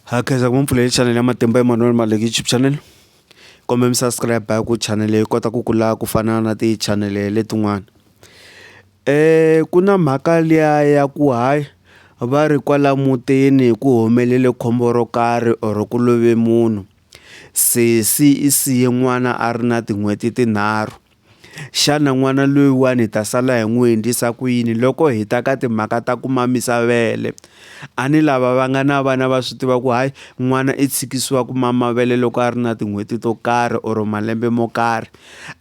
Ha khensa ku va mpfulele chanel ya Matimba Emmanuel Maleki YouTube channel kumbe mi subscribe hi ku channel yi kota ku kula ku fana na ti channel letin'wana ku na mhaka liya ya ku hayi va ri kwala mutini ku humelele khombo ro karhi or ku love munhu sesi i siye n'wana a ri na tin'hweti tinharhu. Xana n'wana loyiwani hi ta sala hi n'wi endlisa ku yini loko hi ta ka timhaka ta ku mamisa vele? A ni lava va nga na vana va swi tiva ku hayi n'wana i tshikisiwa ku mama vele loko a ri na tin'hweti to karhi or malembe mo karhi.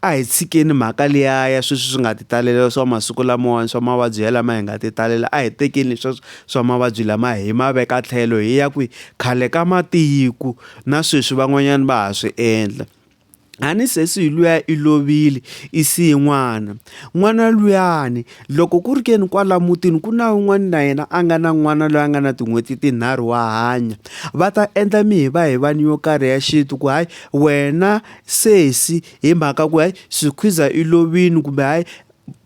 A hi tshikeni mhaka liya ya sweswi swi nga ti talela swa masiku lamawani swa mavabyi ya lama hi nga ti talela a hi tekeni sweswo swa mavabyi lama hi ma veka tlhelo hi ya kwihi khale ka matiko na sweswi van'wanyana va ha swi endla. a ni sesi hi luya i lovile i siye n'wana n'wana luyani loko ku ri ke ni kwala mutini ku na un'wana na yena a nga na n'wana loyi a nga na tin'hweti tinharhu wa hanya va ta endla mi hi va hi vani yo karhi ya xintu ku hayi wena sesi hi mhaka ku hayi swikhwiza i lovini kumbe hayi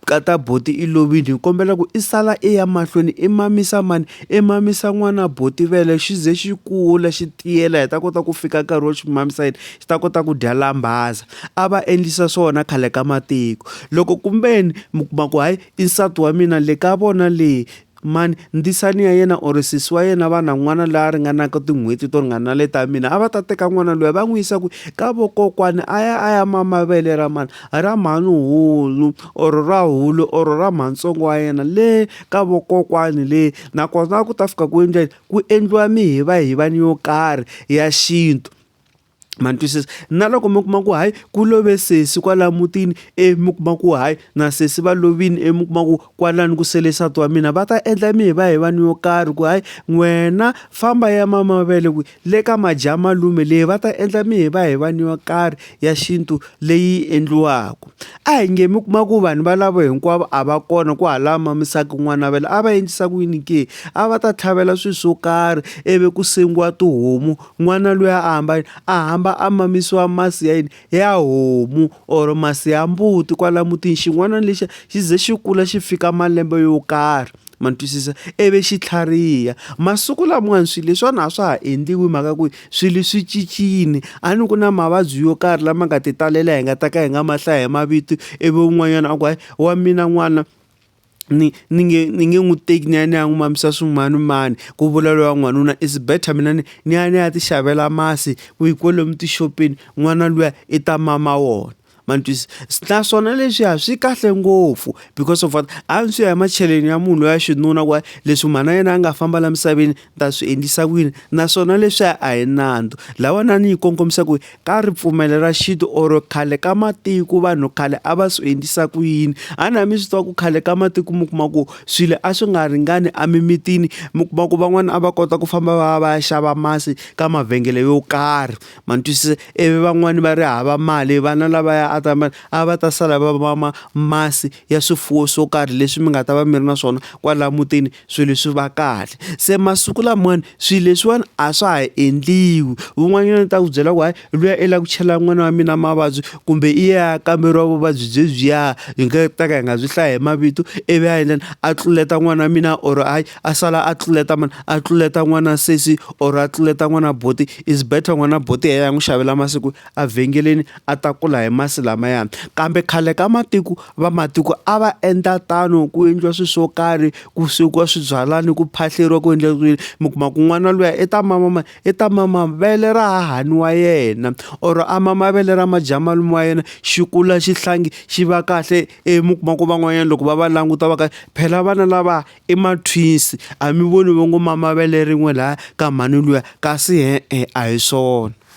Nkata buti i lovile ni kombela ku i sala i ya mahlweni i mamisa mani i mamisa n'wana buti vele xi ze xi kula xi tiyela hi ta kota ku fika nkarhi wo xi mamisa yini xi ta kota ku dya lambaza a va endlisa swona khale ka matiko loko kumbeni mi kuma ku hayi i nsati wa mina le ka vona le Mhani, ndzisani ya yena or sesi wa yena va na n'wana la ringanaka tin'hweti to ringana le ta mina a va ta teka n'wana loyi va n'wi yisa ku ka vokokwani a ya a ya mama vele ra mani ra mhanuhulu or ra hulu or ra mhantsongo wa yena le ka vokokwani le nakona a ku ta fika ku endla yini ku endliwa mihivahiva ni yo karhi ya xintu. ma ni twisisa na loko mi kuma ku hayi ku love sesi kwala mutini e mi kuma ku hayi na sesi va lovini e mi kuma ku kwalani ku sele nsati wa mina va ta endla mi hi va hi vanhu yo karhi ku hayi n'wena famba ya mama mavele ku le ka madya malume leyi va ta endla mi hi va hi vanhu yo karhi ya xintu leyi endliwaka a hi nge mi kuma ku vanhu valavo hinkwavo a va kona ku hala ma misaka n'wana vele a va endlisa ku yini ke a va ta tlhavela swilo swo karhi ivi ku sengiwa tihomu N'wana luya a hamba yini? A hamba a mamisiwa masi ya yini? Ya homu or masi ya mbuti kwala mutini. Xin'wana lexiya xi ze xi kula xi fika malembe yo karhi, ma ni twisisa? Ivi xi tlhariha. Masiku lamawani swilo leswiwani a swa ha endliwi hi mhaka ku swilo swi cincile. A ni ku na mavabyi yo karhi lama nga ti talela hi nga ta ka hi nga ma hlayi hi mavito, ivi un'wanyana a ku hayi wa mina n'wana ni ni nge ni nge n'wi teki ni ya ni ya n'wi mamisa swimanimani ku vula loyi wa n'wanuna is better mina ni ni ya ni ya ti xavela masi ku hi kwalomu tixopeni n'wana luya i ta mama wona ma ni twisisa, naswona leswiya swi kahle ngopfu because of what a swi ya hi macheleni ya munhu loyi wa xinuna ku leswi mhana yena a nga famba la misaveni. ta swi endlisa ku yini naswona leswiya a hi nandzu lawanani yi kongomisa ku ka ripfumelo ra xintu or khale ka matiko vanhu khale a va swi endlisa ku yini a na mi swi tiva ku khale ka matiko mi kuma ku swilo a swi nga ringani emimitini mi kuma ku van'wana a va kota ku famba va va ya xava masi ka mavhengele yo karhi ma ni twisisa ivi van'wani va ri hava mali vana lavaya a ta mali a va ta sala va mama masi ya swifuwo swo karhi leswi mi nga ta va mi ri na swona kwala mutini. swilo leswi va kahle se masiku lamawani swilo leswiwani a swa ha endliwi un'wanyana ta ku byela ku hayi luya i lava ku chela n'wana wa mina mavabyi kumbe i ya kamberiwa vuvabyi byebyiya hi nga ta ka hi nga byi hlaya hi mavito ivi a endleni a tluleta n'wana wa mina or hayi a sala a tluleta mani a tluleta n'wana sesi or a tluleta n'wana buti is better n'wana buti hi yena a n'wi xavela masiku. evhengeleni a ta kula hi masi lamayani kambe khale ka matiko vamatiko a va endla tano ku endliwa swilo swo karhi ku swekiwa swibyalani ku phahleriwa ku endla swilo mi kuma ku n'wana luya i ta mama i ta mama vele ra hahani wa yena or a mama vele ra madyamalume wa yena xi kula xi hlangi xi va kahle e mi kuma ku van'wanyana loko va va languta va ka phela vana lava i ma-twins a mi voni va ngo mama vele rin'we laya ka mhani luya kasi e-e a hi swona.